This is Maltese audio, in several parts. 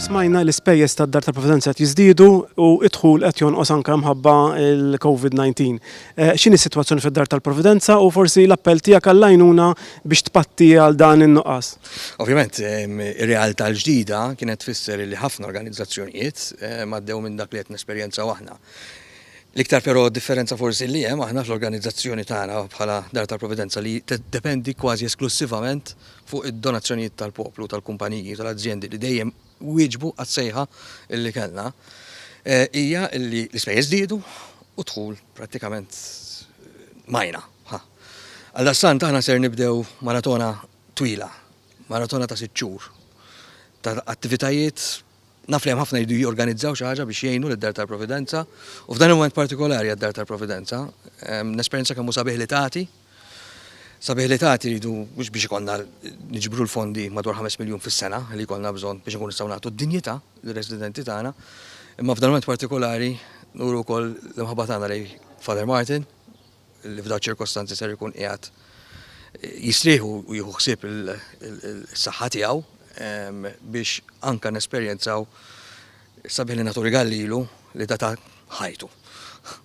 Smajna li spejjeż tad-Dar tal-Provvidenza qed jiżdiedu u d-dħul qed jonqos anke mħabba l-COVID-19. Eh, x'inhi s-sitwazzjoni fid-Dar tal-Provvidenza u forsi l-appell tiegħek għall-għajnuna biex tpatti għal dan in-nuqqas? Ovvjament, ehm, ir-realtà l-ġdida kienet tfisser li ħafna organizzazzjonijiet ehm, għaddew minn dak li qed nesperjenzaw aħna. L-iktar però differenza forsi li hemm aħna fl-organizzazzjoni tagħna bħala Dar tal-Providenza li dependi kważi esklussivament fuq id-donazzjonijiet tal-poplu, tal-kumpaniji, tal-azjendi li dejjem wieġbu għas-sejħa li kellna, hija li l-ispejjeż żdiedu u d-dħul prattikament majna. Ħa. Għaldaqstant aħna ser nibdew maratona twila, maratona ta' sitt xhur ta' attivitajiet Naf li hemm ħafna jridu jorganizzaw xi ħaġa biex jgħinu lid-Dar tal-Providenza u f'dan il-mument partikolari għad-Dar tal-Providenza. Nesperjenza kemm hu sabiħ li tagħti. Sabiħ li tagħti rridu mhux biex ikollna niġbru l-fondi madwar 5 miljun fis-sena li jkollna bżonn biex inkunu nistgħu nagħtu d-dinjità lir-residenti tagħna, imma f'dan il-mument partikolari nuru wkoll l-imħabba tagħna lejn Father Martin, li f'dawn ċirkostanzi ser ikun qiegħed jistrieħu u jieħu ħsieb is-saħħa tiegħu ehm, biex anka nesperjenzaw sabiħ li nagħtu rigal lilu li data ħajtu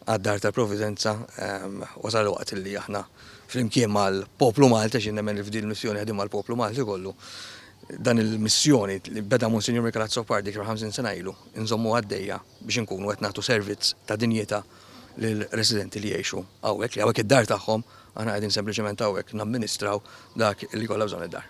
għad-dar tal-Providenza ehm, wasal waqt li aħna flimkien mal-poplu Malta xi nemmen li f'din missjoni ħedim mal-poplu Malti kollu dan il-missjoni li beda Monsignor Mikarazzo Pardi kif 50 sena ilu nżommu għaddejja biex inkunu qed nagħtu servizz ta' dinjità lill-residenti li jgħixu hawnhekk, li hawnhekk id-dar tagħhom, aħna qegħdin sempliċement hawnhekk namministraw dak li jkollha bżonn id-dar.